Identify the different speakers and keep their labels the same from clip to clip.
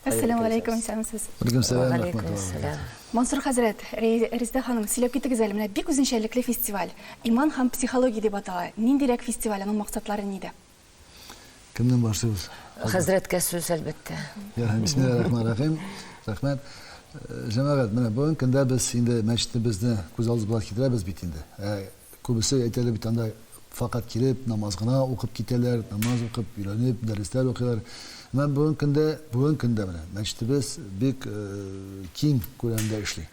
Speaker 1: Әссәләмү галәйкүм, исәнмесез. Вәләйкүм сәлам, рәхмәтулла вә бәрәкәтүһ. Мансур хәзрәт, Резидә ханым, сөйләп китегез әле, менә бик үзенчәлекле фестиваль, Иман һәм психология дип атала. Ниндирәк фестиваль, аның максатлары нидә? Кемнән башлыйбыз? Хәзрәткә сүз, әлбәттә. Ярый, бисмиллаһи рахмани рахим. Рәхмәт. Җәмәгать, менә бүгенге көндә без инде мәчетебезне күз алдыбызга китерәбез бит инде. Ә Күбесе әйтәләр бит анда факат килеп намаз гына укып китәләр, намаз укып өйрәнеп дәресләр укыйлар. Менә бүген көндә, бүген көндә менә мәчетебез бик киң күләмдә эшли.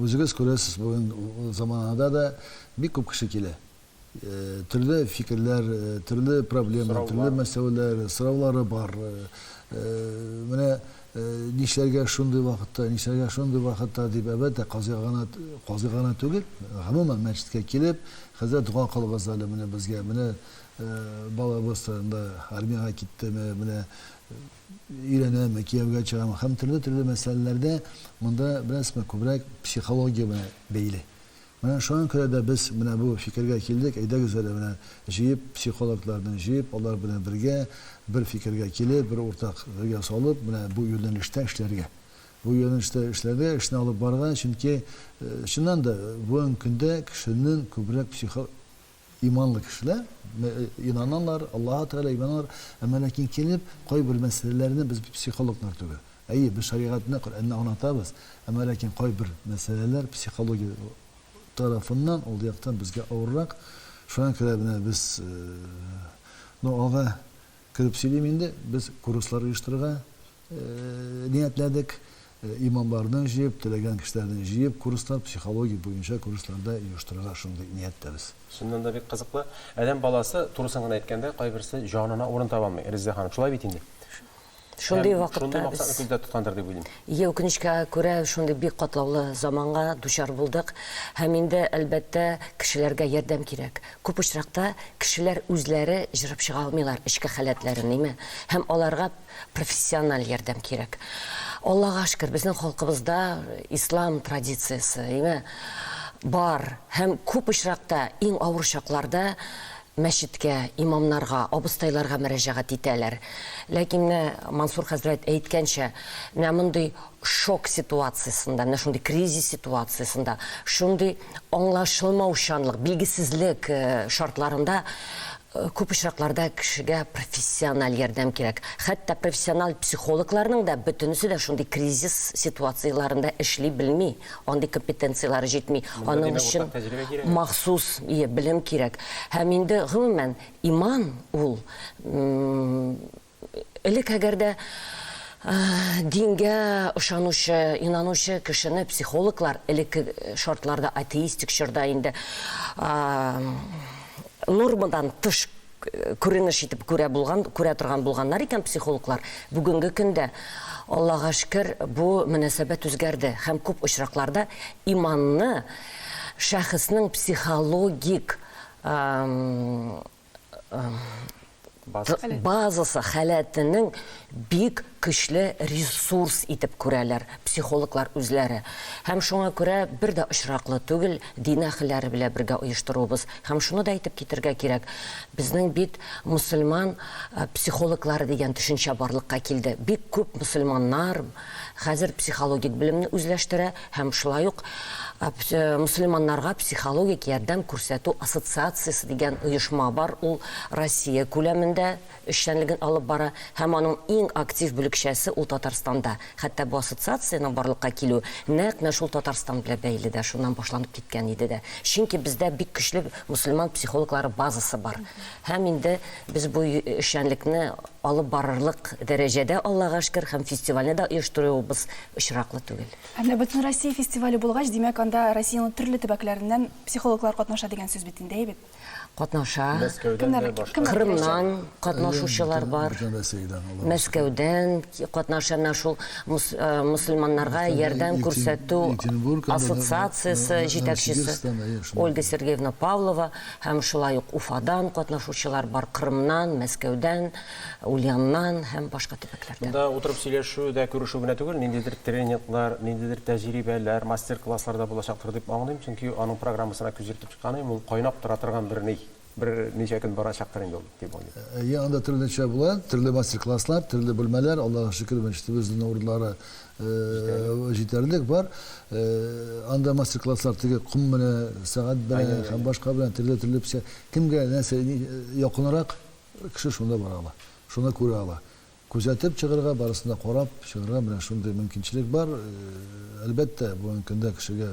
Speaker 1: Үзегез күрәсез, бүген заманада да бик күп кеше килә. Төрле фикерләр, төрле проблемалар, төрле мәсьәләләр, сораулары бар. Менә нишләргә шундый вакытта, нишләргә шундый вакытта дип, әлбәттә, казыйга гына, казый гына түгел, гомумән, мәчеткә килеп, хәзрәт, дога кылыгыз әле менә безгә, менә балабыз турында, армиягә киттеме, менә өйләнәме, кияүгә чыгамы һәм төрле-төрле мәсьәләләрдә монда, беләсезме, күбрәк психология белән бәйле. Менә шуңа күрә дә без менә бу фикергә килдек, әйдәгез әле менә җыеп, психологларны җыеп, алар белән бергә бер фикергә килеп, бер уртак гыргә салып, менә бу юнәлештә эшләргә. Бу юнәлештә эшләргә, эшне алып барырга, чөнки, чыннан да, бүгенге көндә кешенең күбрәк психо Иманлы кешеләр инаналар, Аллаһы Тәгаләгә инаналар, әмма ләкин килеп, кайбер мәсьәләләрне без психологлар түгел. Әйе, без шәригатьне, Коръәнне аңлатабыз, әмма ләкин кайбер мәсьәләләр психология тарафыннан, ул яктан безгә авыррак. Шуңа күрә менә без, ну, алга кереп сөйлим инде, без курслар оештырырга, ниятләдек. Имамларны җыеп, теләгән кешеләрне җыеп, курслар, психология буенча курслар да оештырырга шундый нияттәбез. Чыннан да бик кызыклы. Адәм баласы, турысын гына әйткәндә, кайберсе җанына урын таба алмый, Реззә ханым, шулай бит инде. Шундый вакытта без. Шундый максатны күздә тоткандыр дип уйлыйм. Ие, үкенечкә күрә, шундый бик катлаулы заманга дучар булдык. Һәм инде, әлбәттә, кешеләргә ярдәм кирәк. Күп очракта кешеләр үзләре җырып чыга алмыйлар эчке халәтләрен, име? Һәм аларга Профессиональ ярдәм кирәк. Аллага шөкер, безнең халкыбызда ислам традициясе ме бар һәм күп очракта иң авыр чакларда мәчеткә, имамнарга, абыстайларга мөрәҗәгать итәләр. Ләкин менә Мансур хәзрәт әйткәнчә, менә мондый шок ситуациясендә, менә шундый кризис ситуациясендә, шундый аңлашылмаучанлык, билгесезлек шартларында Күп очракларда кешегә профессиональ ярдәм кирәк. Хәтта профессиональ психологларның да бөтенесе дә шундый кризис ситуацияләрендә эшли белми, андый компетенцияләре җитми. Аның өчен махсус белем кирәк. Һәм инде, гомумән, иман ул, Элек әгәр дә дингә ышанучы, инанучы кешене психологлар, элекке шартларда, атеистик чорда инде, нормадан тыш күренеш итеп күрә булган, күрә торган булганнар икән психологлар, бүгенге көндә, Аллага шөкер, бу мөнәсәбәт үзгәрде һәм күп очракларда иманны шәхеснең психологик базасы халәтенең бик көчле ресурс итеп күрәләр психологлар үзләре. Һәм шуңа күрә бер дә очраклы түгел, дин әһелләре белән бергә оештыруыбыз. Һәм шуны да әйтеп китәргә кирәк, безнең бит мөселман психологлары дигән төшенчә барлыкка килде. Бик күп мөселманнар хәзер психологик белемне үзләштерә. һәм шулай ук Мөселманнарга психологик ярдәм күрсәтү ассоциациясе дигән оешма бар, ул Россия күләмендә эшчәнлеген алып бара һәм аның иң актив бүлекчәсе ул Татарстанда. Хәтта бу ассоциациянең барлыкка килүе нәкъ менә шул Татарстан белән бәйле дә, шуннан башланып киткән иде дә. Чөнки бездә бик көчле мөселман психологлары базасы бар. Һәм инде без бу эшчәнлекне алып барырлык дәрәҗәдә, Аллага шкер, һәм фестивальне дә оештыруыбыз очраклы түгел. Һәм дә Бөтенроссия фестивале булгач, димәк, анда Россиянең төрле төбәкләреннән психологлар катнаша дигән сүз бит инде, әйбәт. Катнаша. Мәскәүдән дә, башка. Кырымнан катнашучылар бар. Мәскәүдән катнаша, менә шул мөселманнарга ярдәм күрсәтү ассоциациясе җитәкчесе Ольга Сергеевна Павлова. һәм шулай ук Уфадан катнашучылар бар, Кырымнан, Мәскәүдән, Ульяннан һәм башка төбәкләрдән. Монда утырып сөйләшү дә, күрешү генә түгел, ниндидер тренинглар, ниндидер тәҗрибәләр, мастер-класслар да булачактыр дип аңлыйм, чөнки аның программасына күз йөртеп чыкканым, ул кайнап тора торган бер ни, бер ничә көн барачактыр инде ул, дип уйлыйм. Әйе, анда төрлечә була, төрле мастер-класслар, төрле бүлмәләр, Аллага шөкер, мәчетебезнең урыннары Җитәрлек бар. Анда мастер-класслар теге ком менә сәгать белән һәм башка белән төрле-төрле печән. Кемгә нәрсә якынрак кеше шунда бара ала. Шуны күрә ала. Күзәтеп чыгарга, барысын да карап чыгарга менә шундый мөмкинчелек бар. Әлбәттә, бүгенге көндә кешегә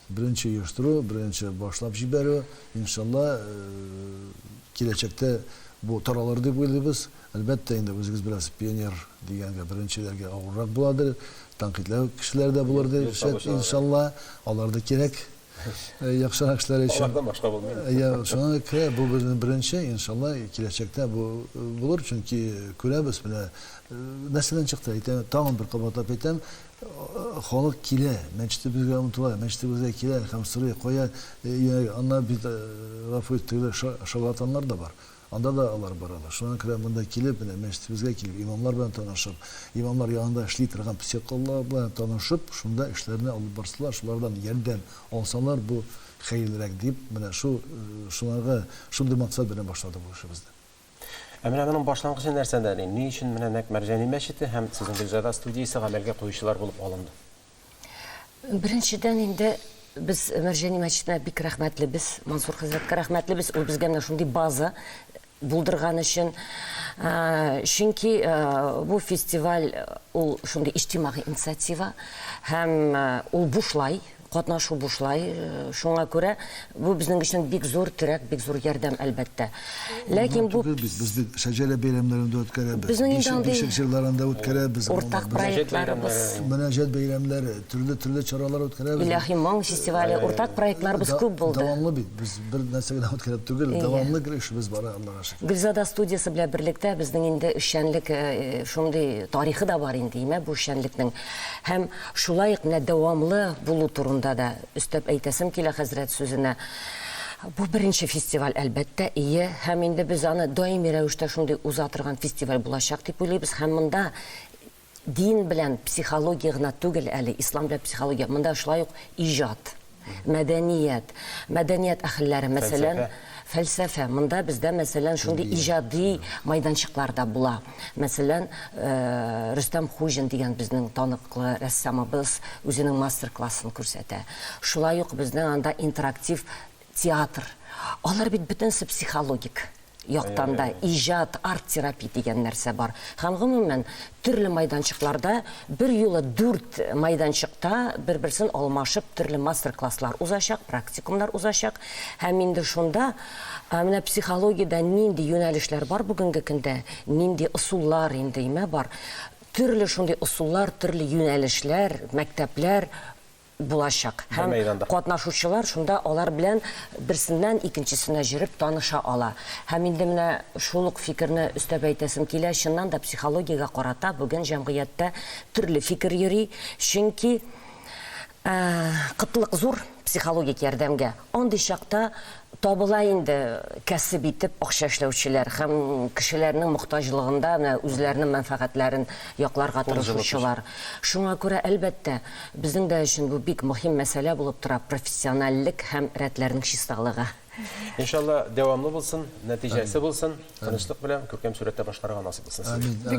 Speaker 1: Беренче оештыру, беренче башлап җибәрү. Иншалла, киләчәктә бу таралыр дип уйлыйбыз. Әлбәттә инде, үзегез беләсез, пионер дигәнгә беренчеләргә авыррак буладыр, тәнкыйтьләү кешеләр дә булыр дип шәт, иншалла. Алар да кирәк, яхшырак эшләр өчен. Алардан башка булмый. Йә, шуңа күрә бу безнең беренче, иншалла, киләчәктә бу булыр, чөнки күрәбез, менә нәрсәдән чыкты, әйтәм, тагын бер кабатлап әйтәм, Халык килә, мәчетебезгә омтыла, мәчетебезгә килә һәм сорый, кая юнәлгән, аннары бит, гафу ит, тегеләр шарлатаннар да бар, анда да алар баралар. Шуңа күрә монда килеп, менә мәчетебезгә килеп, имамнар белән танышып, имамнар янында эшли торган психологлар белән танышып, шунда эшләрне алып барсалар, шулардан ярдәм алсалар, бу хәерлерәк дип, менә шул, шуларга, шундый максат белән башладык бу эшебезне. Ә менә моның башлангычы нәрсәдә? Ди? Ни өчен менә нәкъ Мәрҗани мәчете һәм сезнең Гөлзада студиясе гамәлгә куючылар булып алынды? Беренчедән инде без Мәрҗани мәчетенә бик рәхмәтлебез, Мансур хәзрәткә рәхмәтлебез, ул безгә менә шундый база булдырган өчен. Чөнки бу фестиваль ул шундый иҗтимагый инициатива һәм ул бушлай, Катнашу бушлай, шуңа күрә бу безнең өчен бик зур терәк, бик зур ярдәм, әлбәттә. Ләкин бу. Гына түгел бит, без бит Шәҗәрә бәйрәмнәрен дә үткәрәбез. Безнең инде андый. Бишек җырларын да үткәрәбез. Ул уртак проектларыбыз. Мөнәҗәт бәйрәмнәре, төрле, төрле чаралар үткәрәбез. Илаһи моң фестивале, уртак проектларыбыз күп булды. Дәвамлы бит, без бер нәрсә генә үткәреп түгел, дәвамлы гел эшебез бара, Аллага шөкер. Гөлзада студиясе белән берлектә безнең инде эшчәнлек шундый тарихы да бар инде, имә бу эшчәнлекнең. Һәм. Шулай ук менә дәвамлы булу турында да өстәп әйтәсем килә хәзрәт сүзенә. Бу беренче фестиваль, әлбәттә, ие, һәм инде без аны даими рәвештә шундый уза торган фестиваль булачак дип уйлыйбыз, һәм монда дин белән психология гына түгел әле, ислам белән психология, монда шулай ук иҗат. мәдәният, мәдәният әһелләре, мәсәлән, фәлсәфә. Монда бездә, мәсәлән, шундый иҗади мәйданчыклар да була. Мәсәлән, Рөстәм Хуҗин дигән безнең таныклы рәссамыбыз үзенең мастер-классын күрсәтә. Шулай ук безнең анда интерактив театр. Алар бит бөтенесе психологик. яктан да, иҗат, арт-терапия дигән нәрсә бар. Һәм гомумән, төрле майданчыкларда берьюлы дүрт майданчыкта бер-берсен алмашып төрле мастер-класслар узачак, практикумнар узачак. Һәм инде шунда менә психологиядә нинди юнәлешләр бар бүгенге көндә, нинди ысуллар инде имә бар, төрле шундый ысуллар, төрле юнәлешләр, мәктәпләр, булачак. Һәм катнашучылар шунда алар белән берсеннән икенчесенә җөреп таныша ала. Һәм инде менә шул ук фикерне өстәп әйтәсем килә, чыннан да психологиягә карата бүген җәмгыятьтә төрле фикер йөри, чөнки кытлык зур психологик ярдәмгә. Андый чакта Табыла инде кәсеп итеп акча эшләүчеләр һәм кешеләрнең мохтаҗлыгында менә үзләренең мәнфәгатьләрен якларга тырышучылар. Шуңа күрә, әлбәттә, безнең дә өчен бу бик мөһим мәсьәлә булып тора, профессиональлек һәм рәтләрнең чисталыгы. Иншалла, дәвамлы булсын, нәтиҗәсе булсын, тынычлык белән күркәм сурәттә башкарырга насыйп булсын сезгә.